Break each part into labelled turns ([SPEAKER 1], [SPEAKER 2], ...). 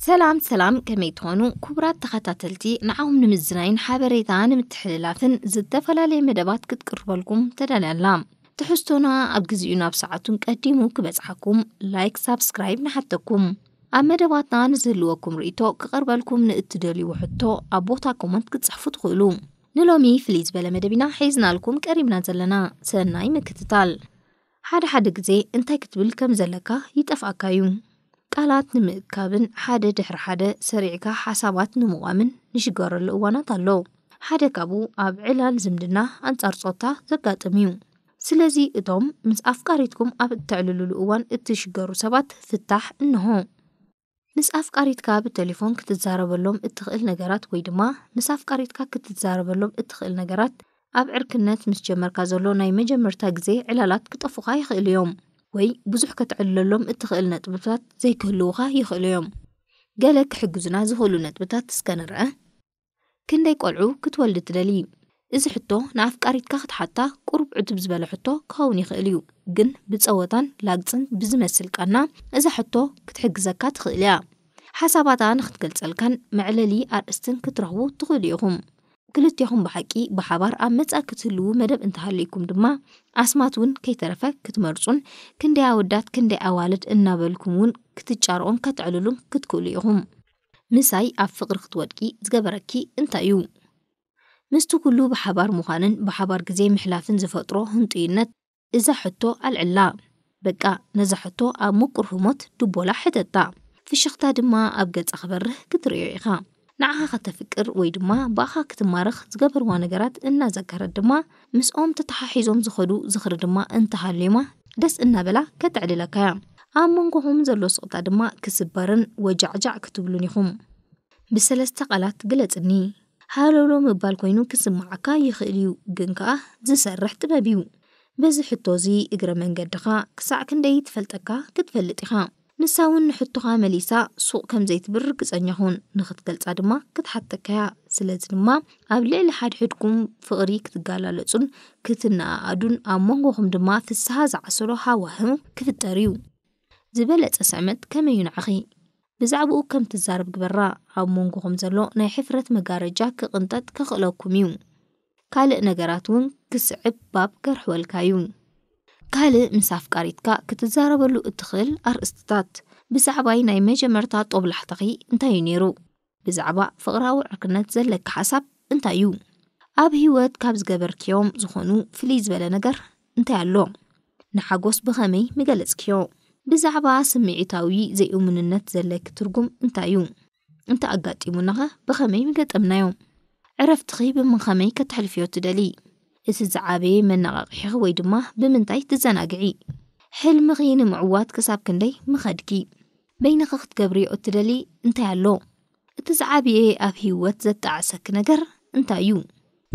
[SPEAKER 1] ሰላም ሰላም ከመይ ትኾኑ ክቡራት ተኸታተልቲ ንዓኹም ንምዝናይን ሓበሬታ ንምትሕልላፍን ዝተፈላለየ መደባት ክትቅርበልኩም ተዳልያ ኣላ ትሕዝቶና ኣብ ግዚኡ ናብ ሰዓቱን ቀዲሙ ክበጽሓኩም ላይክ ሳብስክራይብ ንሓተኩም ኣብ መደባትና ንዝህልወኩም ርእይቶ ክቐርበልኩም ንእትደልይዎ ሕቶ ኣብ ቦታ ኮመንት ክትጽሕፉ ትኽእሉ። ንሎሚ ፍልይ ዝበለ መደብ ኢና ሒዝናልኩም ቀሪብና ዘለና። ሰናይ ምክትታል። ሓደ ሓደ ግዜ እንታይ ክትብል ከም ዘለካ ይጠፍኣካ እዩ። ቃላት ንምእካብን ሓደ ድሕሪ ሓደ ሰሪዕካ ሓሳባት ንምቛምን ንሽገረሉ እዋናት ኣሎ። ሓደ ካብኡ ኣብ ዕላል ዝምድና ኣንጻር ጾታ ዘጋጥም እዩ። ስለዚ እቶም ምስ ኣፍቃሪትኩም ኣብ እተዕልሉሉ እዋን እትሽገሩ ሰባት ፍታሕ እንሆ። ምስ ኣፍቃሪትካ ብተሌፎን ክትዛረበሎም እትኽእል ነገራት ወይ ድማ ምስ ኣፍቃሪትካ ክትዛረበሎም እትኽእል ነገራት ኣብ ዕርክነት ምስ ጀመርካ ዘሎ ናይ መጀመርታ ግዜ ዕላላት ክጠፉኻ ይኽእሉ እዮም ወይ ብዙሕ ከተዕልለሎም እትኽእል ነጥብታት ዘይክህልዉኻ ይኽእሉ እዮም። ገለ ክሕግዙና ዝኽእሉ ነጥብታት እስከ ንርኣ። ክንደይ ቆልዑ ክትወልዲ ትደልዪ? እዚ ሕቶ ንኣፍቃሪትካ ክትሓታ ቁሩብ ዕቱብ ዝበለ ሕቶ ክኸውን ይኽእል እዩ፣ ግን ብጸወታን ላግጽን ብዝመስል ቃና እዛ ሕቶ ክትሕግዘካ ትኽእል እያ። ሓሳባታ ንኽትገልጸልካን መዕለሊ ኣርእስትን ክትረኽቡ ትኽእሉ ኢኹም። ክልቴኹም ብሓቂ ብሓባር ኣብ መጻኢ ክትህልዉ መደብ እንተሃልዩኩም ድማ ኣስማት እውን ከይተረፈ ክትመርጹን ክንደይ ኣወዳት ክንደይ ኣዋልድ እናበልኩም እውን ክትጫርኡን ከተዕልሉን ክትክእሉ ኢኹም። ምሳይ ኣብ ፍቕሪ ክትወድቂ ዝገበረኪ እንታይ እዩ? ምስቲ ኩሉ ብሓባር ምዃንን ብሓባር ግዜ ምሕላፍን ዝፈጥሮ ህንጡይነት እዛ ሕቶ ኣልዕላ። በቃ ነዛ ሕቶ ኣብ ምቁር ህሞት ድቦላ ሕተታ። ፍሽኽታ ድማ ኣብ ገጻ ክበርህ ክትርእዮ ኢኻ። ንዓኻ ከተፍቅር ወይ ድማ ብኣኻ ክትማረኽ ዝገበርዋ ነገራት እናዘከረት ድማ ምስኦም ተተሓሒዞም ዝኸዱ ዝኽሪ ድማ እንተሃልዩማ ደስ እናበላ ከተዕልለካ'ያ። ኣብ መንጎኹም ዘሎ ስቕታ ድማ ክስበርን ወጃዕጃዕ ክትብሉን ኢኹም። ብሰለስተ ቃላት ግለጽኒ። ሃለውለው ምባል ኮይኑ ክስምዓካ ይኽእል'ዩ፣ ግን ከኣ ዝሰርሕ ጥበብ'ዩ። በዚ ሕቶ'ዚ እግረ መንገድኻ ክሳዕ ክንደይ ትፈልጠካ ክትፈልጥ ኢኻ። ንሳ'ውን ንሕቶኻ መሊሳ ሱቕ ከም ዘይትብል ርግጸኛ ኹን፣ ንኽትገልጻ ድማ ክትሓተካ'ያ። ስለዚ ድማ ኣብ ልዕሊ ሓድሕድኩም ፍቕሪ ክትገላለጹን ክትነኣኣዱን፣ ኣብ መንጎኹም ድማ ፍስሃ ዝዓሰሎ ሃዋህው ክፍጠር'ዩ። ዝበለጸ ስዕመት ከመይ'ዩ ንዓኺ? ብዛዕባኡ ከም ትዛረብ ግበራ፣ ኣብ መንጎኹም ዘሎ ናይ ሕፍረት መጋረጃ ክቕንጠጥ ከኽእለኩም'ዩ። ካልእ ነገራት ውን ክስዕብ ባብ ከርሕወልካ ዩ። ካልእ ምስ ኣፍቃሪትካ ክትዛረበሉ እትኽእል ኣርእስትታት፣ ብዛዕባይ ናይ መጀመርታ ጦብላሕታኺ እንታይ ዩ ነይሩ? ብዛዕባ ፍቕራዊ ዕርክነት ዘለኪ ሓሳብ እንታይ ዩ? ኣብ ህይወት ካብ ዝገበርክዮም ዝኾኑ ፍልይ ዝበለ ነገር እንታይ ኣሎ? ንሓጎስ ብኸመይ ምገለጽክዮ? ብዛዕባ ስምዒታዊ ዘይእሙንነት ዘለኪ ትርጉም እንታይ ዩ? እንተ ኣጋጢሙናኸ ብኸመይ ምገጠምናዮ? ዕረፍትኺ ብምኸመይ ከተሕልፍዮ ትደሊ? እቲ ዝዓበየ መነቓቕሒኺ ወይ ድማ ብምንታይ ትዘናግዒ? ሕልምኺ ንምዕዋት ክሳብ ክንደይ ምኸድኪ? በይንኺ ክትገብርዮ እትደሊ እንታይ ኣሎ? እቲ ዝዓበየ ኣብ ህይወት ዘጣዕሰኪ ነገር እንታይ እዩ?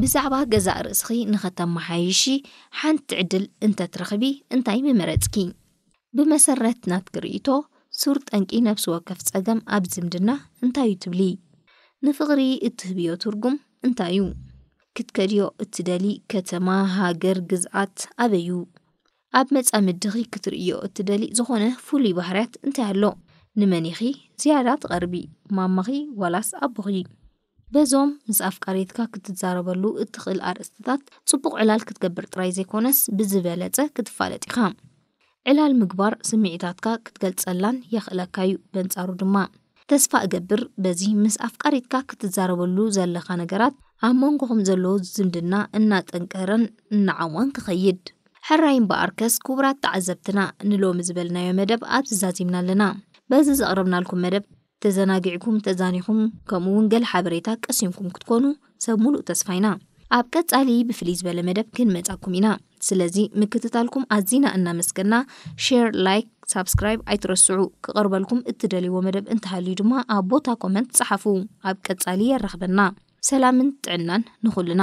[SPEAKER 1] ብዛዕባ ገዛእ ርእስኺ ንኸተመሓይሺ ሓንቲ ዕድል እንተትረኽቢ እንታይ ምመረጽኪ? ብመሰረት ናትኪ ርእይቶ፣ ሱር ጠንቂ ነፍሲ ወከፍ ጸገም ኣብ ዝምድና እንታይ'ዩ ትብሊ? ንፍቕሪ እትህብዮ ትርጉም እንታይ'ዩ? ክትከድዮ እትደልዪ ከተማ፣ ሃገር፣ ግዝኣት ኣበይ'ዩ? ኣብ መጻምድኺ ክትርእይዮ እትደልዪ ዝኾነ ፍሉይ ባህርያት እንታይ ኣሎ? ንመን ኢኺ ዝያዳ ትቐርቢ፣ ማማኺ ዋላስ ኣቦኺ? በዞም ምስ ኣፍቃሪትካ ክትዛረበሉ እትኽእል ኣርእስትታት ጽቡቕ ዕላል ክትገብር ጥራይ ዘይኮነስ ብዝበለጸ ክትፋለጥ ኢኻ። ዕላል ምግባር ስምዒታትካ ክትገልጸላን የኽእለካ'ዩ፣ በንጻሩ ድማ ተስፋ እገብር በዚ ምስ ኣፍቃሪትካ ክትዛረበሉ ዘለኻ ነገራት ኣብ መንጎኹም ዘሎ ዝምድና እናጠንከረን እናዓሞቐን ክኸይድ። ሕራይ እምበኣርከስ ክቡራት ተዓዘብትና ንሎሚ ዝበልናዮ መደብ ኣብዚ ዛዚምና ኣለና። በዚ ዘቕረብናልኩም መደብ ተዘናጊዕኩም፣ ተዛኒኹም ከምኡ ውን ገለ ሓበሬታ ቀሲንኩም ክትኮኑ ሰብ ሙሉእ ተስፋ ኢና። ኣብ ቀጻሊ ብፍልይ ዝበለ መደብ ክንመጻኩም ኢና ስለዚ ምክትታልኩም ኣዚና እናመስገና ሼር ላይክ ሳብስክራይብ ኣይትረስዑ ክቀርበልኩም እትደልይዎ መደብ እንተሃልዩ ድማ ኣብ ቦታ ኮመንት ጸሓፉ ኣብ ቀጻሊ የራኽበና። ሰላምን ጥዕናን ንኹልና።